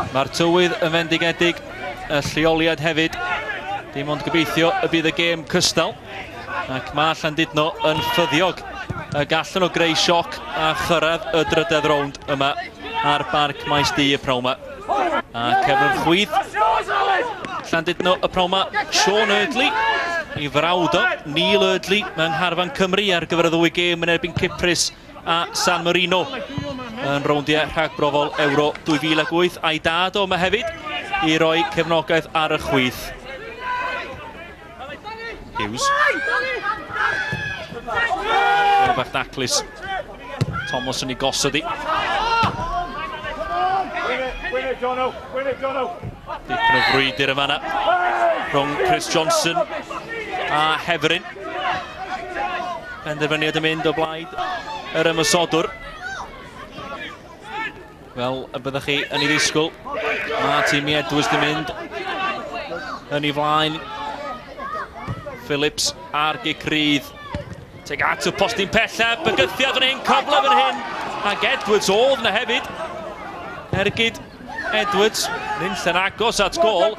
Mae'r tywydd yn fendigedig, y lleoliad hefyd. Dim ond gobeithio y bydd y gêm cystal. Ac mae Llandudno yn ffyddiog y gallan o greu sioc a chyrraedd y drydedd rownd yma ar barc maes du y prawma. A cefnwr chwydd Llandudno y prawma, Sean Erdley i frawd o Neil Erdley mewn harfan Cymru ar gyfer y ddwy gêm yn erbyn Cyprus a San Marino yn rowndiau rhagbrofol Euro 2008 a'i dad o yma hefyd i roi cefnogaeth ar y chwith. Hughes. Gilbert Daclis. Thomas yn ei gosod i. Dipyn o frwydr yma na. Rhwng Chris Johnson a Heferin. Penderfyniad yn mynd o blaid yr ymwysodwr. Fel y byddwch chi yn ei ddisgwyl, mae tîm Edwards yn mynd yn ei flaen. Phillips ar gic rydd. Teg at y postyn pellaf, bygythiad yn ein cyfle fan hyn, ac Edwards oedd na hefyd. Ergyd Edwards, nynll yn agos at gol.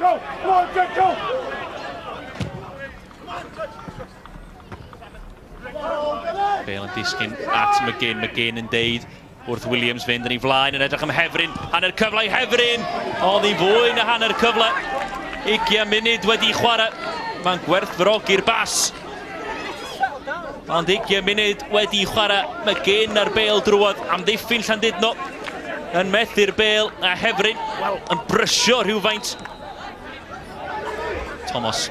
Bale yn disgyn at McGinn, McGinn yn deud wrth Williams fynd yn ei flaen yn edrych am Hefrin, hanner cyfle i Hefrin, ond i fwy na hanner cyfle, 20 munud wedi chwarae, mae'n gwerthfawrogi'r bas, ond 20 munud wedi chwarae, McGinn ar Bale drwodd, amddiffyn Llandudno, yn methu'r Bale a Hefrin, wel, yn brysio rhywfaint. Thomas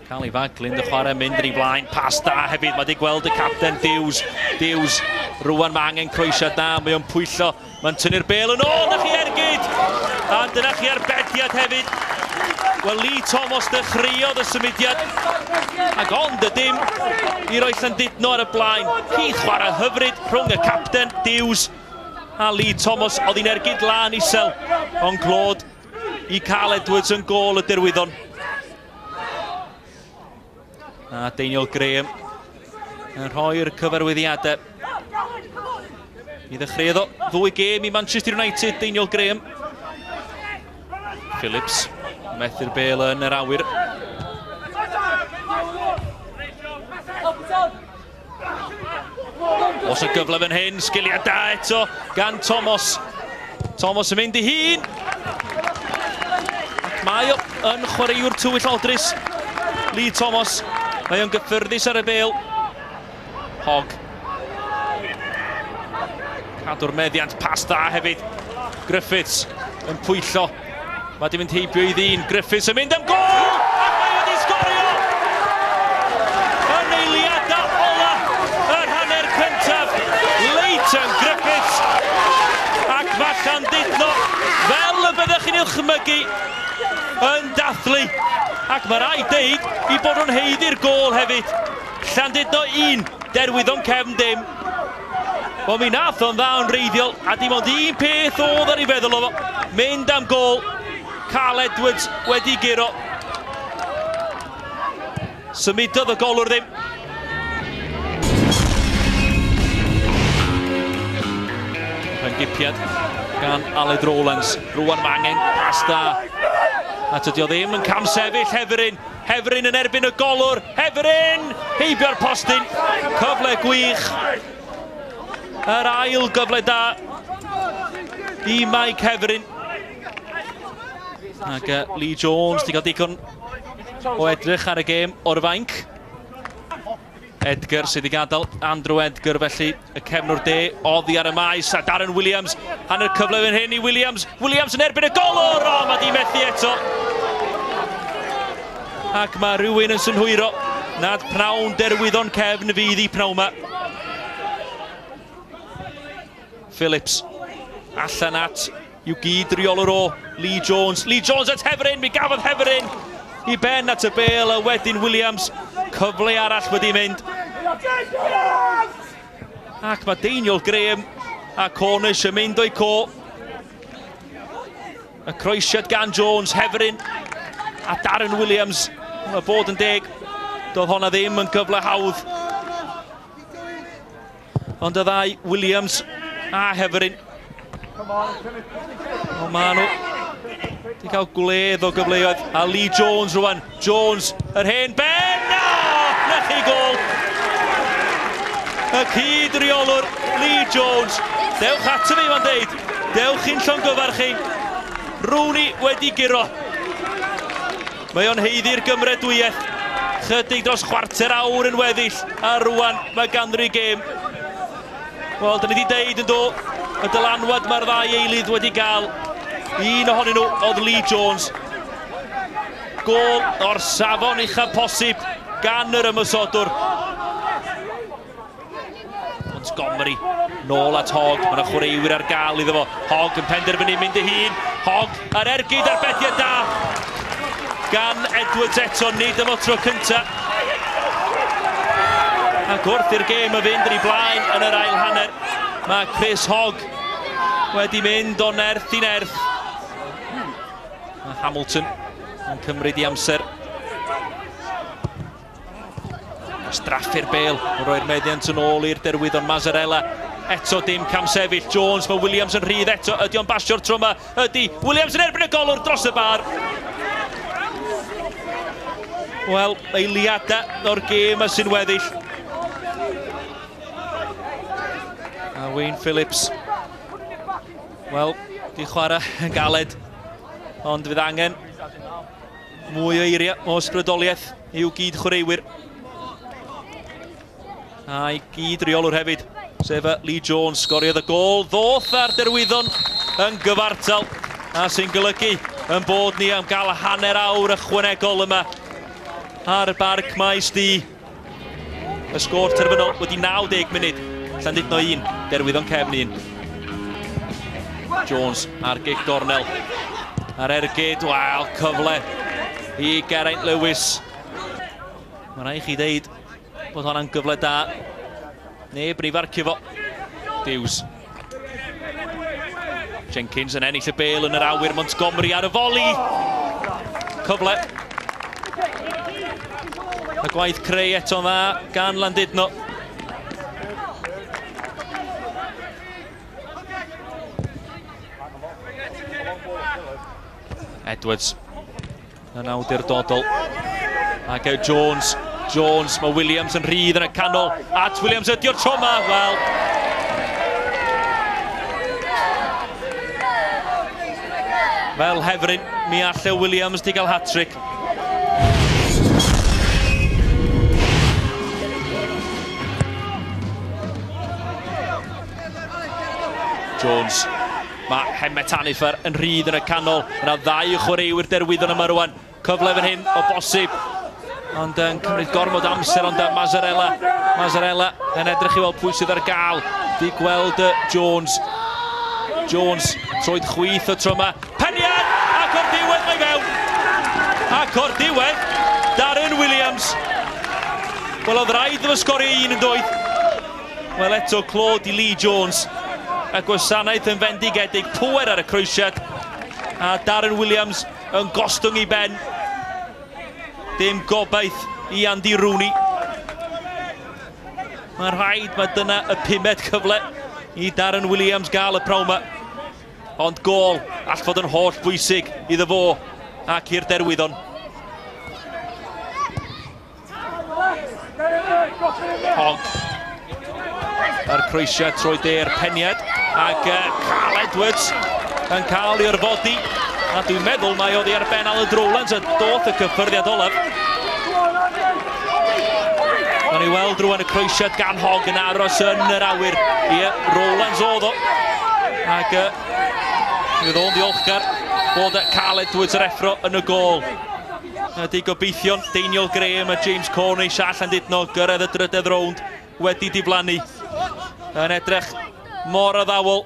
Cael ei faglyn, y chwarae mynd yn ei flaen, pas da hefyd, mae di gweld y capten Dews, Dews, rwan mae angen croesiad da, mae o'n pwyllo, mae'n tynnu'r bel yn ôl, na chi ergyd! A dyna chi arbediad hefyd. Wel, Lee Thomas ddechreuodd y symudiad, ac ond y dim i roi Llandudno ar y blaen. Cydd chwarae hyfryd rhwng y capten Dews a Lee Thomas, oedd hi'n ergyd lan isel, ond glod i Carl Edwards yn gol y derwyddon. A Daniel Graham yn rhoi'r cyfarwyddiadau. I ddechreuodd o ddwy gêm i Manchester United, Daniel Graham. Phillips, methu'r bel yn yr awyr. Os y gyfle fan hyn, sgiliau da eto gan Tomos. Tomos yn mynd i hun. Ac mae o yn chwaraewr tywyll odris. Lee Tomos. Mae o'n gyffyrddus ar y bel. Hog. Cadw'r meddiant pas dda hefyd. Griffiths yn pwyllo. Mae di mynd heibio i ddyn, Griffiths yn mynd am gol! Ac mae wedi sgorio! Yn eiliadau ola yr hanner cyntaf, Leighton Griffiths ac mae Llandudno, fel y byddech chi'n ilchmygu, yn dathlu. Ac mae rai deud i bod nhw'n heiddi'r gol hefyd. Llandudno 1, Derwyddon Cefn dim. Wel mi nath o'n dda yn reiddiol a dim ond un peth oedd ar ei feddwl o mynd am gol. Carl Edwards wedi guro. Symudodd y golwr ddim. Rha'n gipiad gan Aled Rowlands. Rwan mae angen pas da. A tydio ddim yn cam sefyll Heferin. Hefferyn yn erbyn y golwr, Hefferyn! Heibio'r postyn, cyfle gwych. Yr ail gyfle da i Mike Hefferyn. Ac uh, Lee Jones, di gael digon o edrych ar y gêm o'r fainc. Edgar sydd i gadael Andrew Edgar felly y cefnwr de oddi ar y maes a Darren Williams hanner cyfle fan hyn i Williams Williams yn erbyn y golwr o mae di methu eto ac mae rhywun yn synhwyro nad pnawn derwyddon cefn fydd i pnawn yma Phillips allan at yw gyd-reolwr o, Lee Jones. Lee Jones at Hefferyn, mi gafodd Hefferyn i ben at y bel a wedyn Williams. Cyfle arall wedi mynd. Ac mae Deiniol Graham a Cornish yn mynd o'i co. Y croesiad gan Jones, Hefferyn a Darren Williams. Mae bod yn deg, doedd honna ddim yn gyfle hawdd Ond y ddau, Williams a Heferin. O, ma nhw wedi cael gwledd o gyfleoedd. A Lee Jones rwan. Jones, yr hen ben! O, na chi gol! Y cyd reolwr, Lee Jones. Dewch ato fi, mae'n deud. Dewch i'n llongyfarch chi. Rooney wedi giro. Mae o'n haeddu'r gymredwiaeth. Chydig dros chwarter awr yn weddill, a rwan mae ganddi gêm. Wel, dyn ni wedi deud yn do, y dylanwad mae'r ddau eilydd wedi gael. Un ohonyn nhw oedd Lee Jones. Gol o'r safon uchaf posib gan yr ymysodwr. Montgomery, nôl at Hogg, mae'n chwaraewyr ar gael iddo fo. Hogg yn penderfynu mynd ei hun. Hogg, yr ergyd ar bediau da. Gan Edwards eto, nid yma tro cynta. Ac wrth i'r gêm y fynd yn ei blaen yn yr ail hanner, mae Chris Hogg wedi mynd o nerth i nerth. Mae Hamilton yn cymryd i amser. Straffu'r bel, yn rhoi'r meddiant yn ôl i'r derwyddon Mazzarella. Eto dim cam sefyll, Jones, mae Williams yn rhydd eto, ydy o'n basio'r tro yma? Ydy, Williams yn erbyn y golwr dros y bar. Wel, eiliadau o'r gêm y sy'n weddill. A Wayne Phillips, wel, di chwarae yn galed, ond fydd angen Mwy o eiriau o ysbrydoliaeth i'w gyd chwaraewyr. A'i gyd reolwr hefyd, sef y Lee Jones, sgoriodd y gol ddoth ar derwyddon yn gyfartal, a sy'n golygu yn bod ni am gael hanner awr ychwanegol yma ar Barc Maes D. Y sgôr terfynol wedi 90 munud, Llandudno 1, Derwyddon Cefn 1. Jones ar gig gornel. Ar ergyd, wel, cyfle i Geraint Lewis. Mae rhaid chi ddeud bod hwnna'n gyfle da. Neb yn ei farcio fo. Dews. Jenkins yn ennill y bel yn yr awyr, Montgomery ar y foli. Cyfle. A gwaith creu eto'n dda gan Landudno. Edwards yn awdurdodol. Ac e Jones, Jones, mae Williams yn rhydd yn y canol. At Williams ydio'r tro yma, wel, Fel hefryn, mi alle Williams di gael hat-trick. Jones Mae Hemmet Aniffer yn rhydd yn y canol. Yna ddau chwaraewyr derwyddon yma rwan. Cyfle fan hyn o bosib. Ond yn cymryd gormod amser ond Mazzarella. Mazzarella yn edrych i weld pwy sydd ar gael. Di gweld y Jones. Jones, troed chwyth y tro yma. Peniad! Ac o'r diwedd mae fewn. Ac o'r diwedd, Darren Williams. Wel, oedd rhaid efo sgorio un yn doedd. Wel eto clod i Lee Jones. Y gwasanaeth yn fendigedig, pŵer ar y croesiad. A Darren Williams yn gostwng i ben. Dim gobaith i Andy Rooney. Mae'n rhaid, mae dyna y pumed cyfle i Darren Williams gael y prawf yma. Ond gol all fod yn holl bwysig iddo fo ac i'r derwyddon. Hogg. Yr croesiad trwy de'r peniad. Ac uh, Carl Edwards yn cael i'r fodi. A dwi'n meddwl mae oedd ar ben Alan Drowlands a doth y cyffyrddiad olaf. Gawn ni weld rwan y croesiad gan Hogg yn aros yn yr awyr. Ie, Rowlands oedd o. Ac uh, fydd o'n ddiolchgar bod Carl Edwards yr effro yn y gol. Ydy gobeithion Deiniol Graham a James Cornish a Llandudno gyrraedd y drydedd rownd wedi diflannu. Yn edrych mor addawol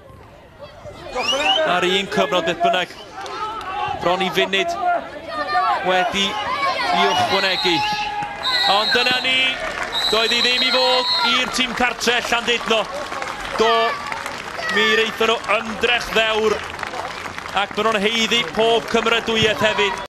ar un cyfnod beth bynnag. Bron i funud wedi i ychwanegu. Ond dyna ni, doedd hi ddim i fod i'r tîm cartre Llandudno. Do, mi reithon nhw ymdrech ddewr ac maen nhw'n heiddi pob cymeradwyaeth hefyd.